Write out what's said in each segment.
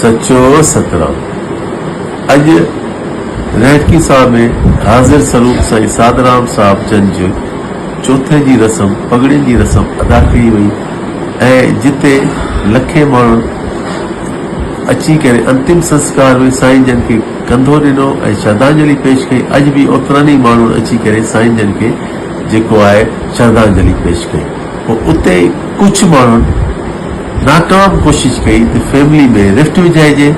سچو سترام اڄ رهٽڪي ساهه ۾ حاضر سروپ سائين سادرام صاحب جن جي چوٿين جي رسم پڳڙين جي رسم ادا ڪئي وئي ۽ جتي لکين ماڻهن اچي ڪري انتم سنسڪار ۾ سائين جن کي ڪنڌو ڏنو ۽ شردانجلي پيش ڪئي اڄ به اوترن ئي ماڻهن اچي ڪري سائين جن کي جيڪو آهي شردانجلي پيش ڪئي پوء اتي ئي ڪڇ ماڻهن ناٽا به ڪوشش ڪئي ته فيملي ۾ رفٽ وجهائجي،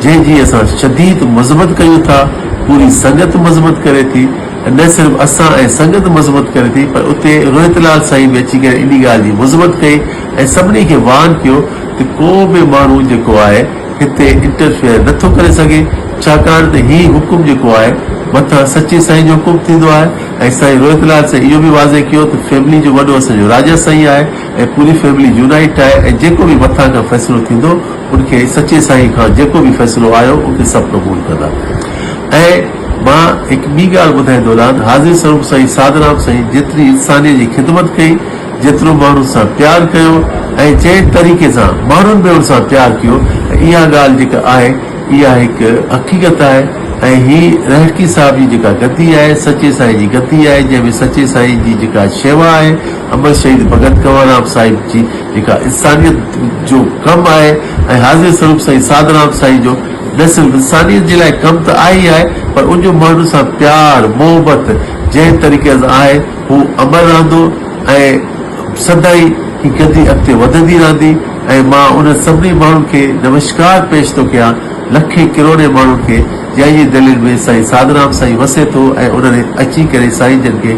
جنهن جي اسان شديد مذمت ڪيون ٿا، پوري سنگت مذمت ڪري ٿي ۽ نه صرف اسان ۽ سنگت مذمت ڪري ٿي پر اتي روهت لال سائين به اچي ڪري انهي ڳالهه جي مذمت ڪئي ۽ سڀني کي وارن ڪيو ته ڪو به ماڻهو جيڪو آهي هتي انٽرفيئر نه ٿو ڪري سگهي ڇاڪاڻ ته هي حڪم جيڪو آهي مٿان سچي سائين جو حڪم ٿيندو آهي ۽ سائين روهت لال سائين اهو به واضح ڪيو ته فيملي جو وڏو اسان جو راجا سائين آهي ۽ پوري فيملي يونائيٽ آهي ۽ جيڪو به مٿان کان فيصلو ٿيندو ان کي سچي سائين کان جيڪو به فيصلو آيو ان کي سڀ قبول ڪندا ۽ مان هڪ ٻي ڳالهه ٻڌائي دولان حاضر سروپ سائين ساڌرام سائين جيتري انساني جي خدمت ڪئي جيترو ماڻهن سان پيار ڪيو ۽ جنهن طريقي سان ماڻهن به ان سان پيار ڪيو ۽ اها ڳالهه جيڪا آهي اها هڪ حقيقت آهي ۽ هي رهڙڪي صاحب جي جيڪا گدي آهي سچي سائين جي گدي آهي جنهن ۾ سچي سائين جي جيڪا شيوا آهي عمل شهيد ڀڳت ڪنور رام صاحب جي جيڪا انسانيت جو ڪم آهي ۽ حاضري سروپ سائين ساڌ رام سائين جو نه صرف انسانيت جي لاء ڪم ته آهي ئي آهي پر ان جو ماڻهن سان پيار محبت جنهن طريقي سان آهي هو امر رهندو ۽ سدائين هي گدي اڳتي وڌندي رهندي ۽ مان انهن سڀني ماڻهن کي نمشڪار پيش ٿو ڪيان لکين ڪروڙين ماڻهن کي جنهن جي دلين ۾ سائين ساڌ رام سائين وسي ٿو ۽ انهن اچي ڪري سائين جن کي